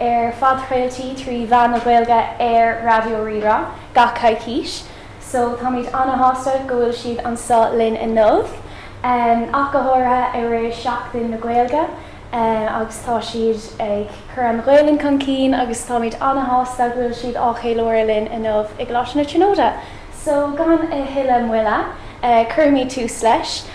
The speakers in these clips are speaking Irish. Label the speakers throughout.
Speaker 1: ar phodchraoltaí trí mheán na Gaeilge ar Raidió Rí-Rá gach coicís so táimid ana-shásta go bhfuil siad anseo linn inniu, ach go háirithe i rith Seachtain na Gaeilge agus tá siad ag cur an Ghaelainn chun cinn agus táimid ana-shásta go bhfuil siad á cheiliúradh linn inniu i gColáiste na Tríonóide. So gan a thuilleadh moille, cuirimis tús leis.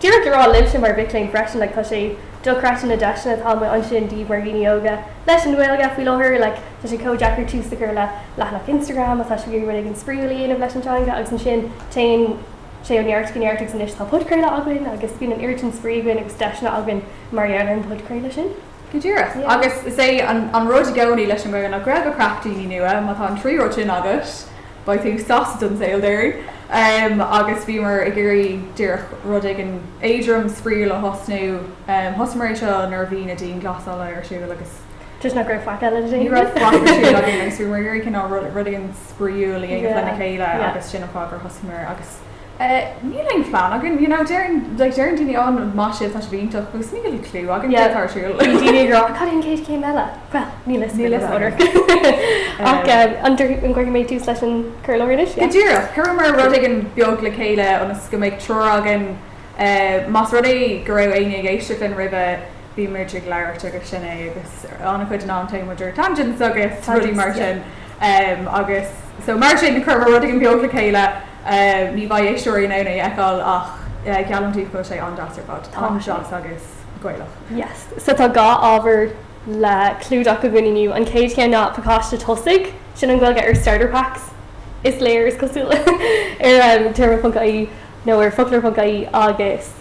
Speaker 2: Díreach le rá libhse mar mhic léinn freisin, like tá sé dochreidte na deiseanna atá amuigh ansin daoibh mar dhaoine óga leis an nGaeilge faoi láthair, like tá sé kinda deacair tús a chur le leathanach Instagram má tá sibh ag iarraidh rud éigin spraíúil a dhéanamh leis an teanga agus ansin téann sé ó neart go neart agus anois tá podchraoladh againn agus bíonn an oiread sin spraoi againn agus deiseanna againn mar gheall ar an bpodchraoladh sin. Go díreach.
Speaker 3: Agus is é an rud i gcónaí leis an nGaeilge ná grá, craic, daoine nua. Má tá an trí rud sin agat, beidh tú sásta don saol, dáiríre. Agus bhíomar ag iarraidh díreach rud éigin éadrom, spraíúil a thosnú. Thosaíomar é seo nuair a bhí na dianghlasálacha ar siúl agus. Toisc nach raibh faic
Speaker 2: eile le déanamh. Ní raibh faic ar siúl
Speaker 3: againn agus bhíomar ag iarraidh cineál rud éigin spraíúil a dhéanamh lena chéile agus sin an fáth gur thosaíomar agus níl aon phlean againn, you know, deireann, like, deireann daoine, oh, maith sibh, tá sibh iontach, agus níl clue againn céard atá ar siúl. Bíonn daoine ag rá, cad é an
Speaker 2: chéad chéim eile? Bhuel, níl a fhios againn. Níl a fhios againn. Ach, an gcuirfidh mé tús leis an gcur i láthair anois? Go díreach.
Speaker 3: Chuireamar rud éigin beag le chéile ionas go mbeidh treoir againn, más rud é go raibh éinne ag éisteacht linn roimhe, bímid ag labhairt agus sin é agus an-chuid den am, téann muid ar tangents agus rudaí mar sin agus so mar sin chuireamar rud éigin beag le chéile, ní bheidh éisteoirí in ann é a fheiceáil ach geallaim daoibh go bhfuil sé an-deas ar fad, an-deas agus Gaelach. Yes, so
Speaker 2: tá dhá ábhar le clúdach againn inniu, an chéad cheann ná pacáiste tosaigh, sin an Ghaeilge ar starter packs is léir, is cosúil, ar Téarma.ie nó ar Foclóir.ie agus.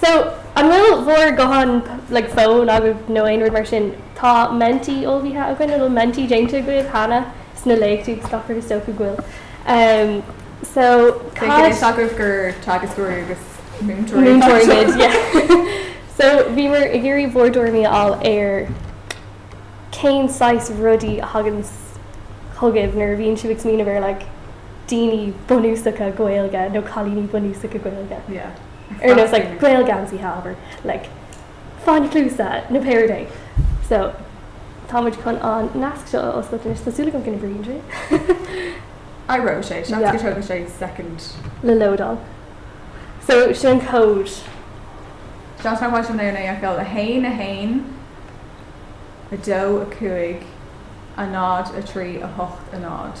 Speaker 2: So, an bhfuil bhur gutháin, like fóin agaibh nó aon rud mar sin, tá Menti ullmhaithe againn nó bhfuil Menti déanta agaibh cheana sna léachtaí agus gach rud is dócha go bhfuil. So, cad. Beidh a fhios agaibh
Speaker 3: gur teagascóirí agus múinteoirí atá anseo.
Speaker 2: Múinteoirí muid, yeah. So, bhíomar ag iarraidh bhur dtuairimí a fháil ar cén saghas rudaí a thagann chugaibh nuair a bhíonn sibh ag smaoineamh ar like daoine bunúsacha Gaeilge nó cailíní bunúsacha Gaeilge. Yeah.
Speaker 3: ar nós
Speaker 2: like gael geansaí however like fáinní cluasa nó Peigín Doyle so tá muid chun an nasc seo a oscailt anois tá súil agam go n-oibríonn sé
Speaker 3: I raibh sé se Yeah. tógfaidh sé second le
Speaker 2: lódáil so sin
Speaker 3: code Sea beidh an le fáil a haon a haon a dó a cúig a náid a trí a hocht a náid.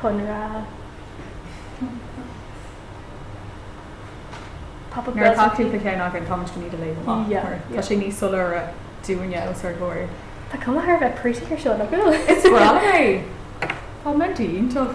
Speaker 2: Conradh Pop-Up Nuair atá tú Blair.
Speaker 3: céanna
Speaker 2: againn, táimid go,
Speaker 3: ní, ag léim amach, Yeah, mar tá yeah. sé níos
Speaker 2: soiléire
Speaker 3: dúinne os ár gcomhair. Tá cuma thar a bheith
Speaker 2: pretty ar seo, nach Is breá bhfuil? é!
Speaker 3: Tá Menti iontach.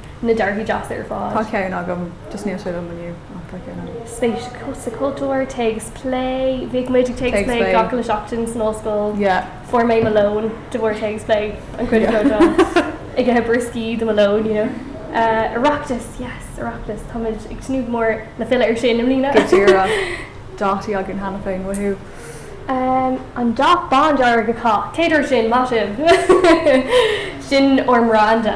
Speaker 2: na dearthaí deasa ar Tá fad. ceann
Speaker 3: agam,
Speaker 2: just
Speaker 3: níl sé liom inniu, ach tá ceann agam.
Speaker 2: spéis sa chultúr, téacs plé, bhíodh muid ag téacs Téacs plé plé. gach uile seachtain
Speaker 3: san
Speaker 2: ollscoil. Yeah. Fuair mé mo
Speaker 3: lón
Speaker 2: de bharr téacs plé, an cuid is mó Yeah. den am ag ithe brioscaí do mo lón, you know. Eh, Oireachtas, yes, Oireachtas, táimid ag tnúth go mór le filleadh air sin i mbliana. Go
Speaker 3: díreach. Dátaí againn cheana féin, woohoo. Em,
Speaker 2: an dath bándearg atá, cé dúirt sin, maith sibh! Sin ár mbranda.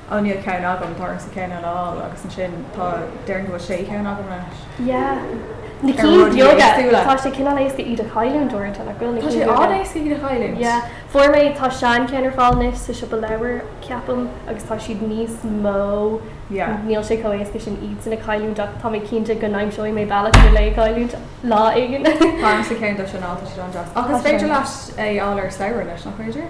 Speaker 3: oh níl ceann agam, tá ormsa ceann eile a fháil agus ansin tá, déarfainn go bhfuil sé cheann agam leis. Yeah.
Speaker 2: Na cinn bheaga,
Speaker 3: tá
Speaker 2: sé cineál
Speaker 3: éasca iad
Speaker 2: a chailliúint uaireanta, nach bhfuil? Tá sé an-éasca iad a
Speaker 3: chailliúint.
Speaker 2: Yeah.
Speaker 3: Fuair mé, tá
Speaker 2: sean ceann ar fáil anois sa siopa leabhar, ceapaim, agus tá siad níos mó, yeah, níl
Speaker 3: sé chomh éasca
Speaker 2: sin iad sin a chailliúint ach tá mé cinnte go n-aimseoidh mé bealach lena chailliúint lá éigin. Tá ormsa ceann
Speaker 3: díobh sin, tá siad an-deas. Ach is féidir leat é a
Speaker 2: fháil ar
Speaker 3: saor in aisce anois, nach féidir?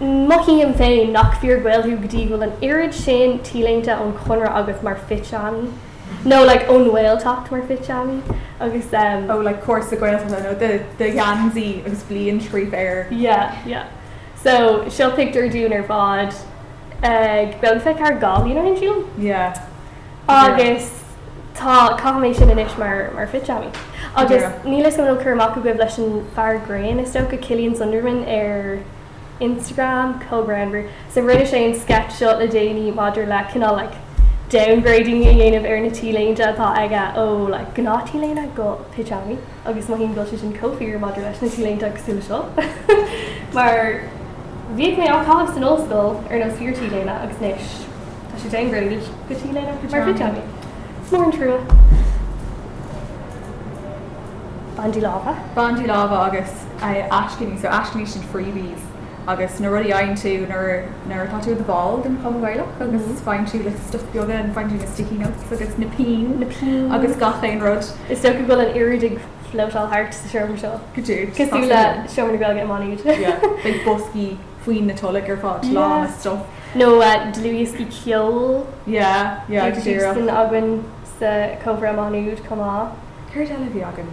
Speaker 2: Mothaím féin nach fíor-Gael thú go dtí go bhfuil an oiread sin T-léinte ón Chonradh agat mar phitseámaí, nó like ón nGaeltacht mar phitseámaí, agus ehm. oh like cúrsa
Speaker 3: Gaeltachta nó do gheansaí agus bliain scríofa air. Yeah, yeah.
Speaker 2: So, seo pictiúr dúinn ar fad ag, Féach, ag Féachta ar Gael-Linn ar siúl? Yeah, go díreach. Agus tá, caithim é sin anois mar, mar phitseámaí. Go Agus díreach. níl 'fhios a'm an bhfuil cur amach agaibh leis an fear grinn, is dócha go, Killian Sundermann ar. Instagram, co-Fhreagraí. So rinne sé an sketch seo le déanaí maidir le cineál like downgrading a dhéanamh ar na T-léinte atá aige ó like gnáth T-léine go pitseámaí agus mothaím go bhfuil sé sin chomh fíor maidir leis na T-léinte cosúil le seo mar bhíodh mé á chaitheamh san ollscoil ar nós fíor T-léine agus anois tá sé downgraded go T-léine mar pitseámaí. Is mór an trua.
Speaker 3: Bandaí láimhe. Bandaí láimhe agus. aiscíní, so aiscíní sin freebies agus na rudaí a fhaigheann tú nuair, nuair atá tú i do bhall den Chumann Gaelach agus faigheann tú like stuff beaga and faigheann tú na sticky notes agus na pinn na pinn agus gach aon rud. Is dócha go bhfuil an oiread
Speaker 2: ag floatáil thart sa seomra seo. Go díreach, tá sé cosúil le
Speaker 3: liom.
Speaker 2: seomra na Gaeilge i Maigh Nuad. Yeah, beidh
Speaker 3: boscaí faoi na toilg ar fad lán Yeah. le stuff. Nó
Speaker 2: dlúthdhioscaí ceoil. Yeah, yeah,
Speaker 3: go Bhí díreach. sin againn
Speaker 2: sa Cobra i Maigh Nuad chomh maith. Céard eile a bhí
Speaker 3: againn?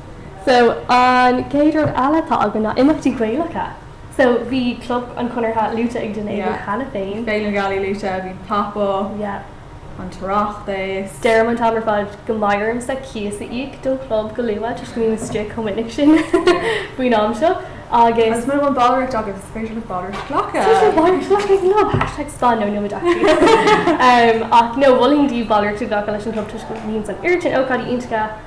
Speaker 2: So, an chéad rud eile atá againn ná imeachtaí Gaelacha. So, bhí Club an Chonartha luaite ag duine éigin cheana féin. Bhí Féile na Gealaí luaite, bhí
Speaker 3: Pop Up, an tOireachtas. Deirim an t-am ar fad
Speaker 2: go mbeidh ormsa cíos a íoc don Chlub go luath toisc go mbím istigh chomh minic sin faoin am seo agus. Agus mura bhfuil ballraíocht
Speaker 3: agaibh, is féidir libh ballraíocht glacadh! Is féidir libh ballraíocht glacadh ag an gClub!
Speaker 2: Hashtag spon nó nóiméad fógraíochta! Ach, no, mholfainn daoibh ballraíocht a ghlacadh leis an gClub toisc go mbíonns an oiread sin ócáidí iontacha,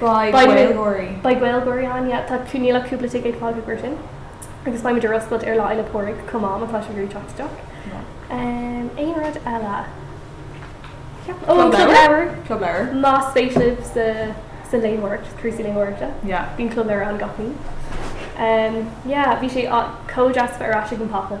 Speaker 2: Beidh Beidh
Speaker 3: muid, Gaeilgeoirí. beidh Gaeilgeoirí
Speaker 2: ann, yeah. Tá, níl ach cúpla ticéad fágtha i gcomhair sin. Agus beimid ar oscailt ar Lá Fhéile Pádraig chomh maith, má tá sibh ag iarraidh teacht isteach. Ahem, aon rud eile? Ceapaim. Ó, an Club Leabhar! Club Leabhar. Más spéis libh sa, sa léitheoireacht, cúrsaí léitheoireachta, Yeah. bíonn Club Leabhar ann
Speaker 3: gach mí.
Speaker 2: Ahem, yeah, bhí sé a- chomh deas a bheith ar ais ag an bPop-Up.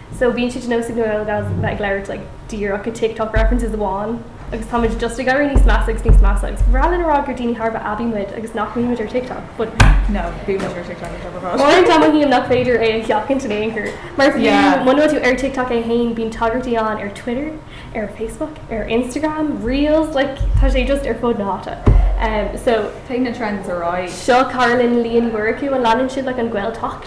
Speaker 2: so bíonn sé de nós ag na Gaelgals a bheith ag labhairt like díreach i TikTok references amháin agus táimid just ag éirí níos measa agus níos measa agus bhreá linn a rá gur daoine thar a bheith aibí muid agus nach mbímid ar TikTok but no
Speaker 3: bímid ar TikTok ar fad uaireanta mothaím
Speaker 2: nach féidir é a sheachaint in aon chor mar fiú muna bhfuil tú ar TikTok é féin bíonn tagairtí ann ar Twitter ar Facebook ar Instagram reels like tá sé just ar fud na háite um, so take na trends a
Speaker 3: rá seo Carolyn líon
Speaker 2: mór acu an leanann siad le an Gaeltacht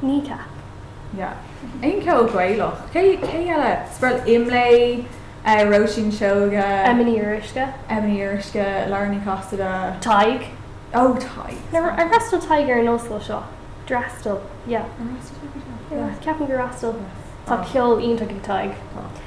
Speaker 2: Kneecap.
Speaker 3: Yeah. Aon cheol Gaelach? Cé cé eile? Is breá liom Imlé, eh Róisín Seoighe. Emma Ní Fhíoruisce.
Speaker 2: Emma Ní Fhíoruisce,
Speaker 3: Lauren Ní Chasaide.
Speaker 2: Tadhg. Oh
Speaker 3: Tadhg. Ar ar fhreastail
Speaker 2: Tadhg ar an ollscoil seo? D'fhreastail. Yeah. Ar fhreastail Tadhg ar seo? Yeah. Ceapaim gur fhreastail. Tá ceol iontach ag Tadhg. Tá.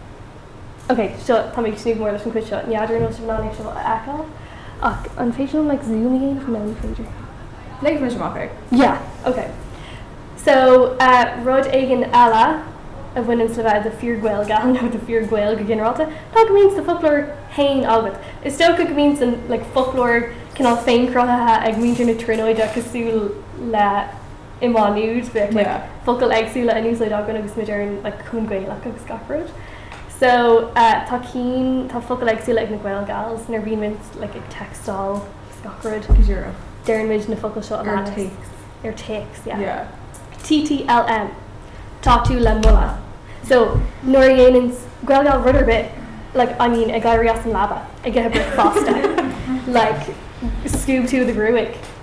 Speaker 2: OK, so, tá mé ag tnúth go mór leis an chuid seo, ní fheadar an bhfuil sibh in ann é seo a fheiceáil, ach an féidir liom like zoom a dhéanamh? No, ní féidir. Léifidh mise amach
Speaker 3: é. Yeah, OK.
Speaker 2: So, eh, rud éigin eile a bhaineanns le bheith i do fíor-Ghaelgal, nó do fíor-Ghael go ginearálta, ná go mbíonns do foclóir fhéin agat. Is dócha go mbíonns an like foclóir cineál féin-cruthaithe ag muintir na Tríonóide cosúil le, i má nude but like focail éagsúla in úsáid againn agus muid ar an like Cumann Gaelach agus gach rud so eh tá cinn tá focail éagsúla ag na Gaelgals nuair bhíonn muid like ag textáil agus gach rud go díreach deireann muid na focail seo a leanas ar téacs ar téacs yeah yeah TTLM tá tú le moladh so nuair a dhéanann Gaelgal rud ar bith like I mean ag éirí as an leaba ag ithe bricfeasta like scuab tú do ghruaig.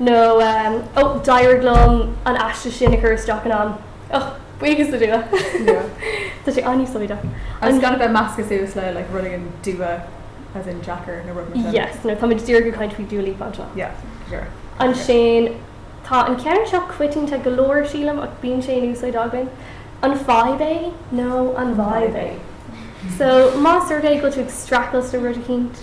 Speaker 2: nó Ó, d'éirigh liom an aiste sin a chur isteach in am. Och, buíochas le Dua. Tá sé an-úsáideach. Agus gan a bheith
Speaker 3: measctha suas le like rudaí an dua as in deacair nó rud mar sin. Yes, nó táimid díreach ag
Speaker 2: caint faoi Dua Lipa anseo. Yeah,
Speaker 3: sure.
Speaker 2: Ansin, tá an ceann seo coitianta go leor, sílim, ach bíonn sé in úsáid againn, An fadhb é nó an vibe é? So, más rud é go bhfuil tú ag streachailt le rud eicínt.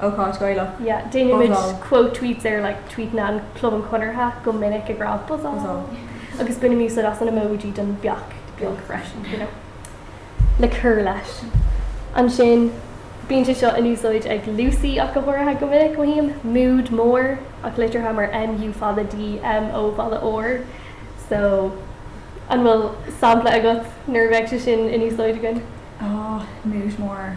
Speaker 3: ócáid Ghaelach. Yeah,
Speaker 2: déanaimid quote tweets
Speaker 3: ar
Speaker 2: like tweetanna Chlub an Chonartha go minic ag rá buzzáil agus bainimid úsáid as an emoji don beach beag freisin, you know, le cur leis. Ansin, bíonn sé seo in úsáid ag Lucy, ach go háirithe go minic, mothaím, mood mór, ach litrithe mar MU fada D, MO fada R. So, an bhfuil sampla agat nuair a bheidh sé sin in úsáid againn? Aw,
Speaker 3: mood mór.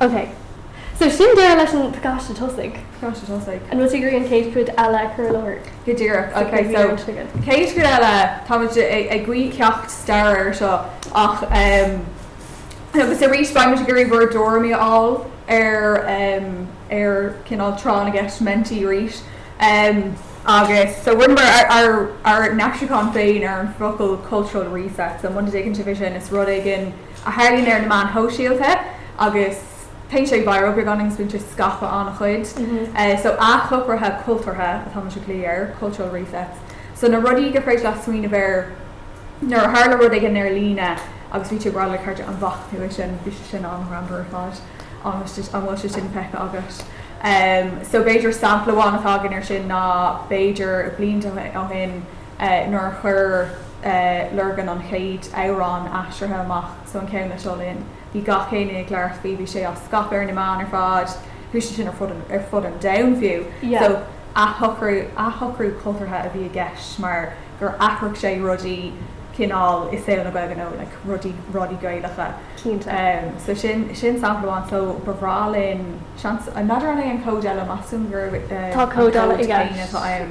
Speaker 2: OK. So, sin deireadh leis an bpacáiste tosaigh. Pacáiste tosaigh.
Speaker 3: An bhfuil tú ag iarraidh an chéad
Speaker 2: chuid eile a chur i láthair? Go díreach. OK, so,
Speaker 3: chéad chuid eile, táimid ag glaoch ceacht staire air seo ach agus arís beidh muid ag iarraidh bhur dtuairimí a fháil ar ar cineál tráth na gceist menti arís. Agus, so, rinneamar ár ár n-aistriúchán féin ar an bhfocal cultural reset. So, muna dtuigeann sibh é sin, is rud éigin. a tharlaíonn ar na meáin shóisialta agus téann sé viral, beagáinín, is bíonn sé scaipthe an-chuid. So, athshocruithe cultúrtha atá mise ag glaoch air, cultural resets. So, na rudaí gur féidir leat smaoineamh air nuair a tharla rud éigin ar líne agus bhí tú ag rá le cairde, an bhfaca tú é sin, bhí sé sin an-ghreannmhar ar fad, an bhfuil sé, an bhfuil sé sin feicthe agat? So, b'fhéidir sampla amháin atá againn air sin ná b'fhéidir blianta ó shin, nuair a chuir Lurgan an chéad amhrán aistrithe amach, so an ceann le Seo Linn, bhí gach éinne ag labhairt faoi, bhí sé á scaipeadh ar na meáin ar fad, chuaigh sé sin ar fud an domhain fiú. So athshocrú cultúrtha a bhí i gceist mar gur athraigh sé rudaí cineál i saol na Gaeilge nó like rudaí, rudaí Gaelacha. Cinnte. So sin, sin sampla amháin. So ba bhreá linn, seans, n'fheadar an é an cód eile, meas tú an gurb é an cód
Speaker 2: céanna atá ann?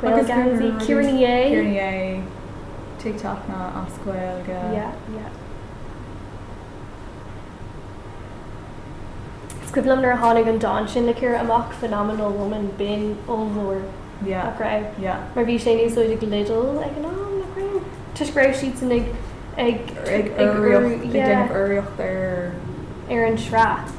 Speaker 2: Gaeilge ar an rud, Ciara Ní É!
Speaker 3: TikTok ná as
Speaker 2: Gaeilge. Is cuimhin liom nuair a tháinig an dán sin le Ciara amach, Phenomenal Woman, b'in ollmhór, nach
Speaker 3: raibh? Mar bhí sé in úsáid
Speaker 2: ag Lidl ag an am, nach raibh? Toisc go raibh siadsan
Speaker 3: ag urraíocht
Speaker 2: ar an tsraith.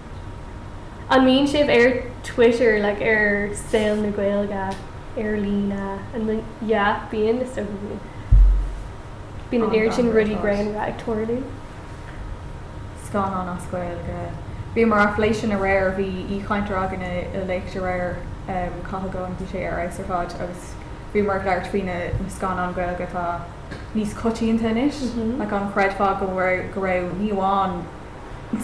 Speaker 2: An mbíonn sibh ar Twitter, like ar Saol na Gaeilge ar líne? An mbíonn? Yeah, bíonn, is dócha go mbíonn. Bíonn an oiread sin rudaí greannmhara ag tarlú.
Speaker 3: Scannán as Gaeilge. Bhíomar á phlé sin aréir, bhí aoichainteoir againn i léacht aréir, Cathal Goan, bhí sé ar fheabhas ar fad agus bhíomar ag labhairt faoi na scannáin Ghaeilge atá níos coitianta anois, like an gcreidfeá go raibh, ní amháin.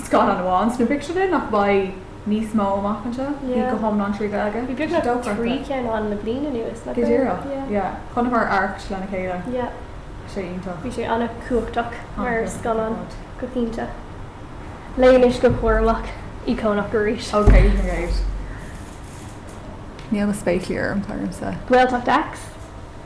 Speaker 3: scannán amháin sna bpictiúrlanna nach mbeidh níos mó amach anseo. Bhí go hiomlán trí Ghaeilge. Bhí beagnach
Speaker 2: trí cheann ann le bliain anuas. Go díreach. Yeah.
Speaker 3: Chonaiceamar Arracht lena chéile. Yeah. Sé
Speaker 2: iontach. Bhí
Speaker 3: sé ana
Speaker 2: cumhachtach mar scannán go cinnte. Léigh anois go cúramach. Íocónach arís. Oh, okay great.
Speaker 3: Níl na spéaclaí orm, tá siad ormsa. Gaeltacht X.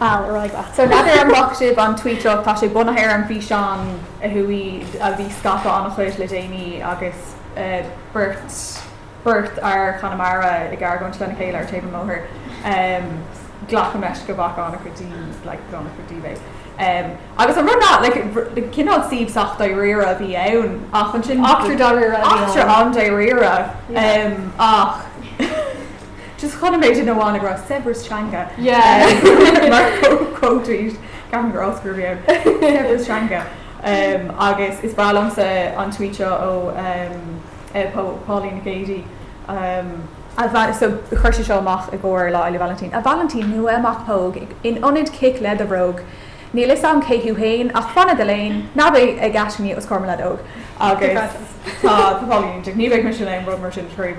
Speaker 3: Okay,
Speaker 2: right. So leath ar an
Speaker 3: bhfaca sibh an tweet ach, tá sé bunaithe ar an bhfíseán a chuaigh, a bhí scaipthe ana chuid le déanaí agus beirt, beirt fhear as Conamara ag argóint lena chéile ar taobh an bhóthair. Glacaim leis go bhfaca ana chuid daoine, like, go leor, ana chuid díobh é. Agus an rud ná, like, cineál suíomh sách dáiríre a bhí ann ach ansin. Eachtra dáiríre a bhí ann.
Speaker 2: Eachtra
Speaker 3: an-dáiríre. Yeah. Ach. just chun an méid sin amháin a ghrá saibhreas teanga mar quote, ceapaim gur Oscar a bhí ann, saibhreas teanga. Agus is breá liomsa an tweet seo ó Pauline Nic Géidigh, so chuir sí seo amach i gcomhair Lá Fhéile Vailintín, 'A Vailintín nua, a mac póg in ionad cic le do thóg, níl 'fhios a'm cé thú fhéin ach fan i do léan, ná bí ag gaiscíocht os comhair mo leaid óg'. Agus tá Pauline, ní bheidh mise in ann rud mar sin a scríobh.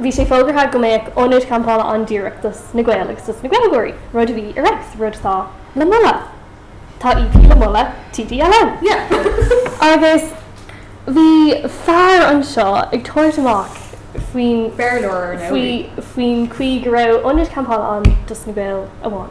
Speaker 2: Bhí sé fógartha go mbeadh ionad campála an-díreach dos na Gaeil agus dos na Gaeilgeoirí, rud a bhí ar,, rud atá le moladh. Tá EP le moladh, TDLM, yeah! Agus bhí fear anseo ag tabhairt amach faoin, Béarlóir, ar ndóigh! faoi,
Speaker 3: faoin
Speaker 2: chaoi go raibh ionad campála ann dos na Gaeil amháin.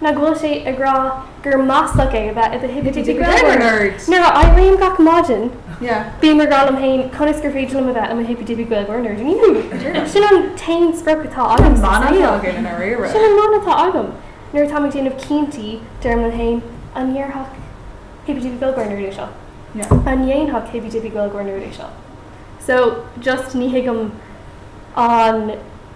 Speaker 2: nach bhfuil sé ag rá gur maslach é a bheith i do hippy dippy Gaeilgeoir. Nuair a éirím gach maidin, bím ag rá
Speaker 3: liom féin
Speaker 2: conas gur féidir liom a bheith i mo hippy dippy Gaeilgeoir nerd inniu. Sin an t-aon sprioc atá agam sa saol.
Speaker 3: Sin an mana atá
Speaker 2: agam. Nuair atáim ag déanamh cinntí, deirim liom féin, 'An ndéarfadh hippy dippy Gaeilgeoir nerd é seo? An ndéanfadh
Speaker 3: hippy
Speaker 2: dippy Gaeilgeoir nerd é seo? So, just ní thuigim an.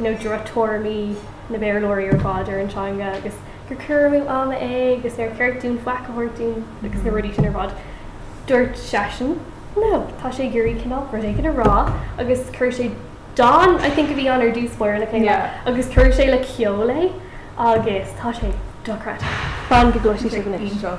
Speaker 2: nó drochthuairimí na Béarlóirí ar fad ar an teanga agus gur cur amú ama é agus nár cheart dúinn faic a thabhairt dúinn agus na rudaí sin ar fad. Dúirt seisean No, tá sé ag iarraidh cineál rud éigin a rá agus chuir sé dán, I think a bhí ann ar dtús báire, le chéile Yeah. agus chuir sé le ceol é agus tá sé dochreidte. Fan go gcloisfidh sibh anois. Iontach.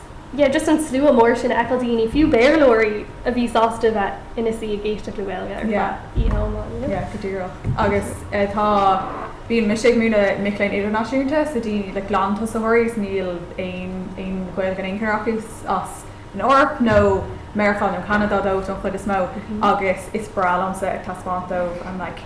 Speaker 2: yeah just an slua mór sin a fheiceáil, daoine, fiú Béarlóirí, a bhí sásta a bheith ina suí ag éisteacht le Gaeilge ar yeah feadh oíche iomlán, you know? yeah,
Speaker 3: go díreach agus eh tá, bíonn mise ag múineadh mic léinn idirnáisiúnta so daoine, like glan-tosaitheoirí agus níl aon, aon Ghaeilge in aon chor acu, as an Eoraip nó Meiriceá nó Ceanada don chuid is mó mhm agus is breá liomsa ag taispeáint dóibh, I'm like,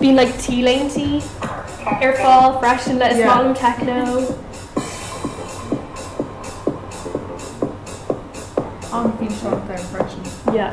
Speaker 2: Bíonn like T-léintí ar fáil freisin le is maith liom techno.
Speaker 3: An bhí seo ar freisin? Yeah.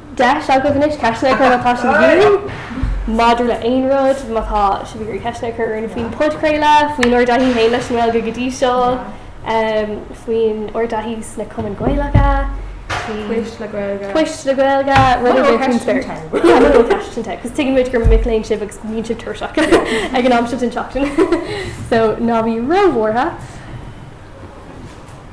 Speaker 2: deis agaibh anois ceisteanna a chur má tá sibh ag iarraidh maidir le haon rud, má tá sibh ag iarraidh ceisteanna a chur orainn faoin podchraoladh, faoin ár dtaithí féin leis an nGaeilge go dtí seo, faoin ár dtaithí sna Cumainn Gaelacha, faoi
Speaker 3: phoist le Gaeilge, poist le
Speaker 2: Gaeilge, rud ar bith faoin spéir. Yeah, rud ar bith ceisteanna, cos tuigimid gur mic léinn sibh agus bíonn sibh tuirseach ag an am seo den tseachtain, so ná bí ró-bhuartha.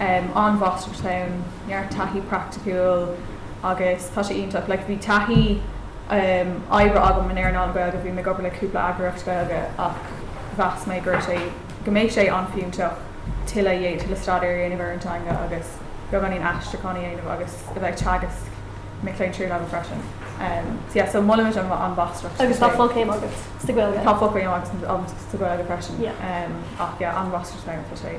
Speaker 3: an mháistreacht ann, neart taithí praiticiúil agus tá sé iontach, like bhí taithí oibre agam in earnáil Gaeilge, bhí mé ag obair le cúpla eagraíocht Gaeilge ach mheas mé go raibh sé, go mbeadh sé an-fhiúntach tuilleadh a dhéanamh, tuilleadh staidéir a dhéanamh ar an teanga agus beagáinín aistriúcháin a dhéanamh agus a bheith ag teagasc mic léinn tríú-leibhéal freisin. So yeah, so molaimid an mháistreacht. Agus tá fochéim
Speaker 2: agat sa Ghaeilge? Tá fochéim agam
Speaker 3: sa Ghaeilge freisin ach yeah,
Speaker 2: an
Speaker 3: mháistreacht ann, tá sé.